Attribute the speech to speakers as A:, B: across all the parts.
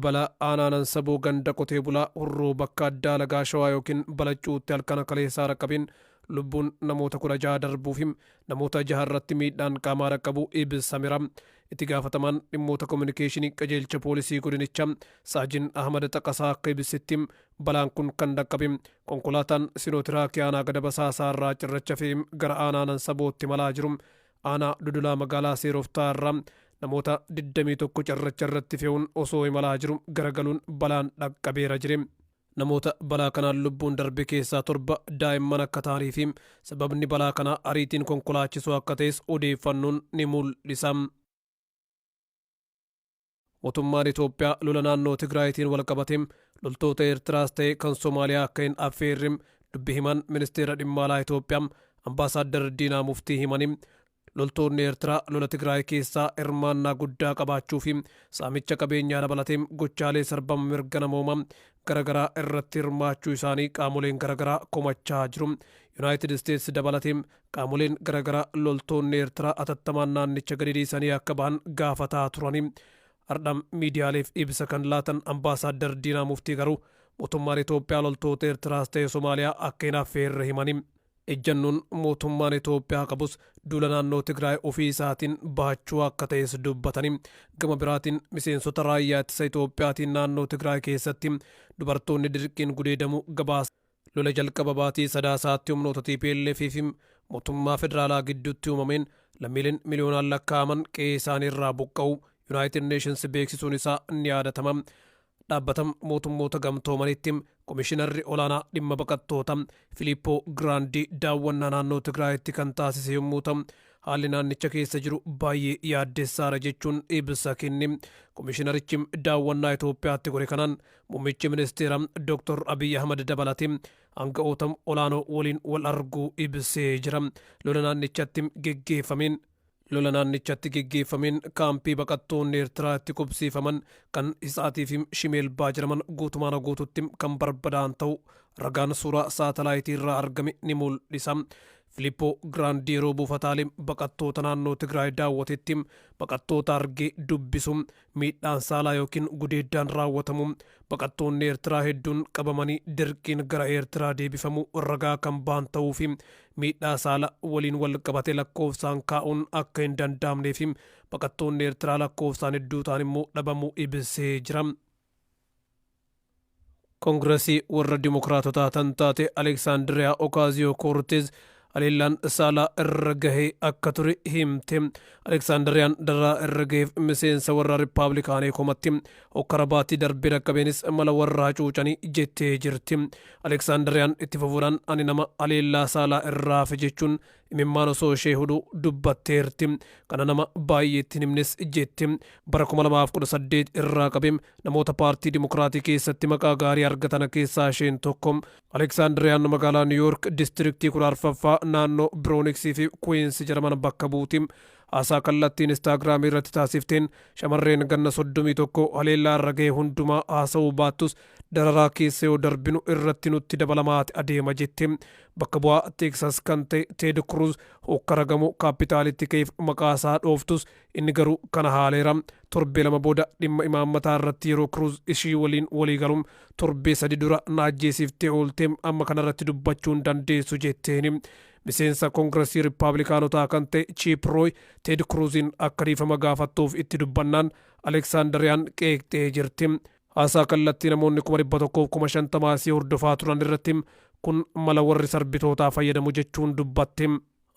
A: Balaa aanaanan saboo ganda qotee bulaa hurruu bakka addaa lagaa shawaa yookiin balaccuutti halkana kaleessaa rakkabin lubbuun namoota kudha jaha darbuufi namoota jaha irratti miidhaan qaamaa rakkabuu ibsamera. Itti gaafatamaan dhimmoota kominikeeshinii qajeelcha poolisii godinicha saajin Ahmad Xaqasaa akka ibsitti Balaan kun kan dhaqqabe konkolaataan Sinootiraakii aanaa Gada Basaasaa irraa cirracha fe'ee gara aanaa Nansabootti imalaa jiru aanaa Dodolaa magaalaa Seeroftaa irraa namoota 21 cirracha irratti fe'uun osoo imalaa jiru garagaluun balaan dhaqqabeera jire. Namoota balaa kanaan lubbuun darbe keessaa torba daa'imman akka ta'anii fi sababni balaa kanaa ariitiin konkolaachisuu akka ta'es odeeffannoon ni mul'isa. Motummaan Itoophiyaa lola naannoo Tigraayitiin walqabatee loltoota Eertiraas ta'e kan Somaaliyaa akka hin affeerre dubbi himaan Ministeera Dhimma Alaa Itoophiyaa Ambaasaaddar Diinaa Muftii himanii, loltoonni Eertiraa lola Tigraay keessaa hirmaannaa guddaa qabaachuu fi saamicha qabeenyaa dabalatee gochaalee sarbama mirga namoomaa garagaraa irratti hirmaachuu isaanii qaamoleen garagaraa komachaa jiru. Yunaayitid Isteets dabalatee Qaamoleen garagaraa loltoonni Eertiraa atattamaan naannicha gadi dhiisanii akka bahan gaafataa turanii hardha miidiyaaleef ibsa kan laatan Ambaasaaddar Diinaa Muftii garuu mootummaan Itoophiyaa loltoota Eertiraas ta'e Somaaliyaa akka hin affeerre himanii ejjannoon mootummaan Itoophiyaa qabus duula naannoo Tigraay ofii isaatiin bahachuu akka ta'es dubbatanii gama biraatiin miseensota raayyaa ittisa Itoophiyaatiin naannoo Tigraay keessatti dubartoonni dirqiin gudeedamu gabaasa Lola jalqaba baatii Sadaasaatti humnoota tplf fi mootummaa federaalaa gidduutti uumameen lammiileen miliyoonaan lakkaa'aman qe'ee isaanii irraa buqqa'uu Yunaayitid Neeshins beeksisuun isaa ni yaadatama. Dhaabbata Mootummoota Gamtoomaniitti Komishinarri Olaanaa Dhimma Baqattoota Filiippoo Giraandii daawwannaa naannoo Tigraayitti kan taasise yommuu ta'u, haalli naannicha keessa jiru baay'ee yaaddessaadha jechuun ibsa kenne. Komishinarichi daawwannaa Itoophiyaatti godhe kanaan Muummichi ministeera Dr. Abiy Ahmad dabalatee aanga'oota olaanoo waliin wal arguu ibsee jira. Lola naannichatti geggeeffameen Lola naannichatti geggeeffameen kaampii baqattoonni Eertiraa itti qubsiifaman kan Hisaatii fi Shimeelbaa jedhaman guutumaana guututti kan barbadaan ta'u ragaan suuraa saatalaayitii irraa argame ni mul'isa. Filippoo Giraandii yeroo buufataalee baqattoota naannoo Tigraay daawwatetti baqattoota argee dubbisu Miidhaan saalaa ykn gudeeddaan raawwatamu baqattoonni Eertiraa hedduun qabamanii dirqiin gara Eertiraa deebifamu ragaa kan ba'an ta'uu fi miidhaa saala waliin wal qabate lakkoofsaan kaa'uun akka hin danda'amnee fi baqattoonni Eertiraa lakkoofsaan hedduu ta'an immoo dhabamuu ibsee jira. Kongirasii warra Dimokiraatotaa tan taate Aleeksaandiriyaa Okaaziyoo Koorteez haleellaan saalaa irra gahee akka ture himte. Aleeksaandiriyaan dararaa irra gaheef miseensa warra Rippaablikaanii komatti. Hokkara baatii darbee dhaqqabeenis mala warra hacuucanii jettee jirti. Aleeksaandiriyaan itti fufuudhaan ani nama haleellaa saalaa irraa hafe jechuun Imimmaan osoo ishee hudhu dubbatteerti. Kana nama baay'eetti hin himnes jetti. Bara 2018 irraa qabe namoota paartii Dimokiraatii keessatti maqaa gaarii argatana keessaa isheen tokko. Aleeksaandiriyaan magaalaa Niw Yoork distiiriktii 14ffaa naannoo Birooniksii fi Kuwiinsi jedhaman bakka buuti. Haasaa kallattii Inistaagiraamii irratti taasifteen shamarreen ganna 31 haleellaa irra gahe hundumaa haasa'uu baattus dararaa keessa yoo darbinu irratti nutti dabalamaati adeema jette. Bakka bu'aa Teeksaas kan ta'e Teed Kruuz hookkara gamoo Kaappitaalitti ka'eef maqaa isaa dhooftus, inni garuu kana haaleera. Torbee lama booda dhimma imaammataa irratti yeroo Kruuz ishii waliin walii galu, Torbee sadi dura na ajjeesiftee oolte, amma kana irratti dubbachuu hin dandeessu jetteeni. Miseensa Kongirasii Rippaablikaanotaa kan ta'e Chiip Rooy, Teed Kruuziin akka dhiifama gaafattuuf itti dubbannaan, Aleksaandariyaan qeeqxee jirti. Haasaa kallattii namoonni kuma dhibba tokkoof kuma shantama si hordofaa turan irratti kun mala warri sarbitootaa fayyadamu jechuun dubbatte.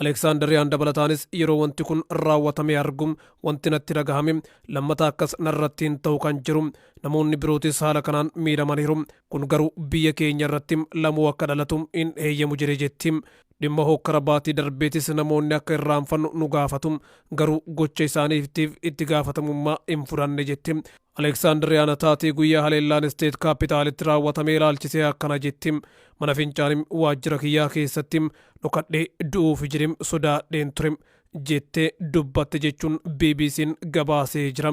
A: Aleeksaandariyaan dabalataanis yeroo wanti kun raawwatamee argu wanti natti dhagahame lammata akkas narratti hin ta'u kan jedhu namoonni birootis haala kanaan miidhamaniiru. Kun garuu biyya keenya irratti lamuu akka dhalatu hin heeyyamu jedhe jetti. Dhimma hookkara baatii darbeetis namoonni akka irraanfannu nu gaafatu. Garuu gocha isaaniitiif itti gaafatamummaa hin fudhanne jetti. Aleeksaandiriyaan taatee guyyaa haleellaan Isteet Kaapitaalitti raawwatame ilaalchisee akkana jetti, Mana fincaanii waajjira kiyyaa keessatti dhokadhee du'uuf jirim sodaadheen ture, jettee dubbatte jechuun BBC'n gabaasee jira.